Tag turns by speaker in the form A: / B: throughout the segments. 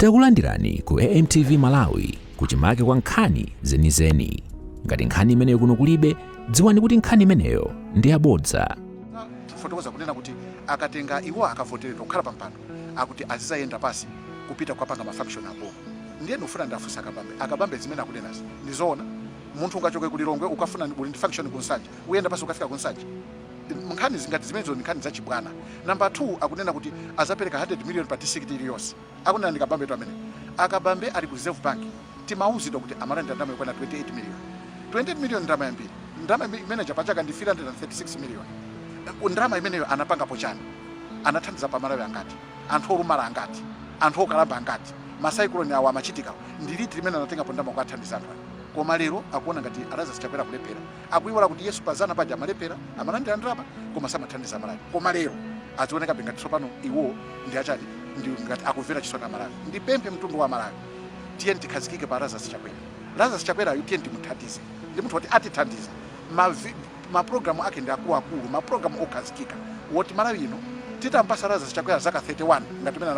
A: Takulandirani ku AMTV Malawi kuchimake kwa nkhani zenizeni. Ngati nkhani imeneyo kuno kulibe, dziwani kuti nkhani imeneyo ndi yabodza. fotokoza
B: kunena kuti akatenga iwo akavoteredwa kukhala pampando akuti azizayenda pasi kupita kukapanga mafunction aboma ndiye ndikufuna ndiwafunse akabambe akabambe zimene akunenazi ndi zoona munthu ungachoke ku lilongwe ukafuna ndi- uli ndi function ku nsanje uyenda pasi ukafika ku nsanje nkhani zingati zimenezo ndi nkhani zachibwana namba 2 akunena kuti azapereka 100 million pa district iliyonse Akunena ndi Kabambetu ameneyo. Akabambe ali ku Reserve Bank timauzidwa kuti amalandira ndalama yokwana 28 million. 28 million ndalama yambiri. Ndalama imene ija pachaka ndi 336 million. Ndalama imeneyo anapangapo chani? Anathandizapo a Malawi angati? Anthu olumala angati? Anthu okalamba angati? Ma cyclone awa amachitikawa ndi liti limene anatengapo ndalama kukathandiza anthu aja? Koma lero akuona ngati a Lazarus Chakwera akulephera. Akuiwala kuti iwonso pa zana paja amalephera, amalandira ndalama koma samathandiza Malawi. Koma lero azionekabe ngati tsopano iwo ndi achani ndi ngati akumvera chisoni a Malawi. Ndipemphe mtundu wa Malawi tiyeni tikhazikike pa Lazarus Chakwera. Lazarus Chakwerayu tiyeni timuthandize ndi munthu oti atithandiza. Ma ma program ake ndi akuluakulu, ma program okhazikika woti Malawi ino titampasa Lazarus Chakwera zaka 31 ngati mene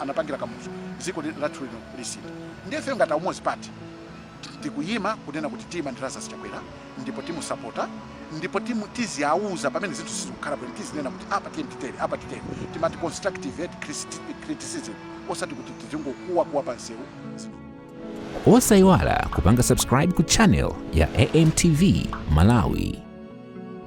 B: anapangira Kamuzu dziko lathu lino lisintha. Ndiye ifeyo ngati a Umodzi Party. Tikuyima kunena kuti tiyima ndi Lazarus Chakwera ndipo timusapota ndipo timu tiziauza pamene zinthu sizikukhala bwino tizinena kuti apa titere apa titere timati constructive criticism osati kuti tizingokuwa kuwa pa msewu
A: Osaiwala kupanga subscribe ku channel ya AMTV Malawi.